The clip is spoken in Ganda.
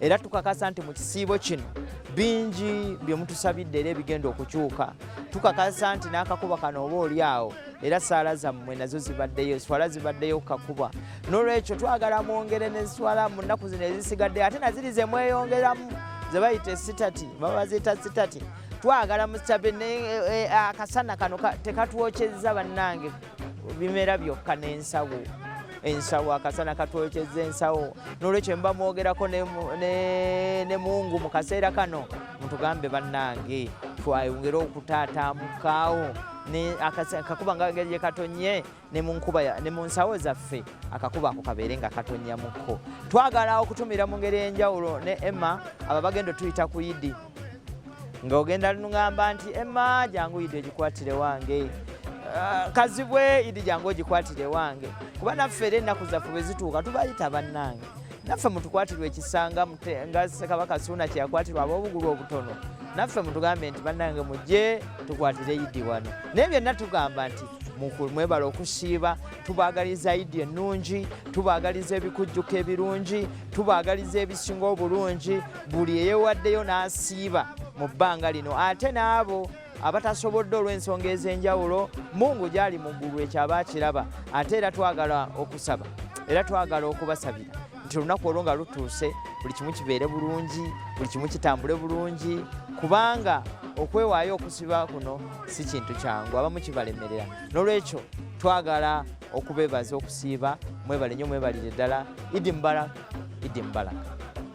era tukakasa nti mu kisiibo kino bingi bye mutusabidde era ebigenda okukyuka tukakasa nti n'akakuba kano oba oli awo era saala zammwe nazo zibaddeyo swala zibaddeyo kukakuba n'olwekyo twagala mwongere ne swala mu nnaku zino ezisigaddeyo ate naziri ze mweyongeramu ze bayita esitati baba baziyita sitati twagala musitabe eh, eh, akasana kano tekatwokyezza bannange bimera byokka n'ensawo ensawo akasana katwokyeza ensawo nolwekyo mba mwogerako ne mungu mu kaseera kano mutugambe bannange twayongere okutaataamukaawo akakuba nga geri katonye ne mu nsawo zaffe akakuba ako kabeere nga katonyamuko twagala okutumira mu ngeri enjawulo ne emma aba bagenda otuyita ku idi nga ogenda lunungamba nti emma jangu idi ogikwatire wange ah, kazibwe idi jangu ogikwatire wange kuba naffe era ennaku zaffe bwe zituuka tubayita bannange naffe mutukwatirwa ekisanga nga sekabaka suuna kyeyakwatirwa ab'obugulu obutono naffe mutugambe nti bannange mujje tukwatire idi wano naye byonna tugamba nti mwebala okusiiba tubagaliza idi ennungi tubagaliza ebikujjuko ebirungi tubagaliza ebisinga obulungi buli eyewaddeyo n'asiiba mu bbanga lino ate n'abo abatasobodde olw'ensonga ez'enjawulo mungu gyali mu ggulu ekyo aba akiraba ate era twagala okusaba era twagala okubasabira nti olunaku olwo nga lutuuse buli kimu kibeere bulungi buli kimu kitambule bulungi kubanga okwewaayo okusiba kuno si kintu kyangu abamu kibalemerera n'olwekyo twagala okubeebaza okusiiba mwebale nnyo mwebalire ddala idi mubalaka idi mubalaka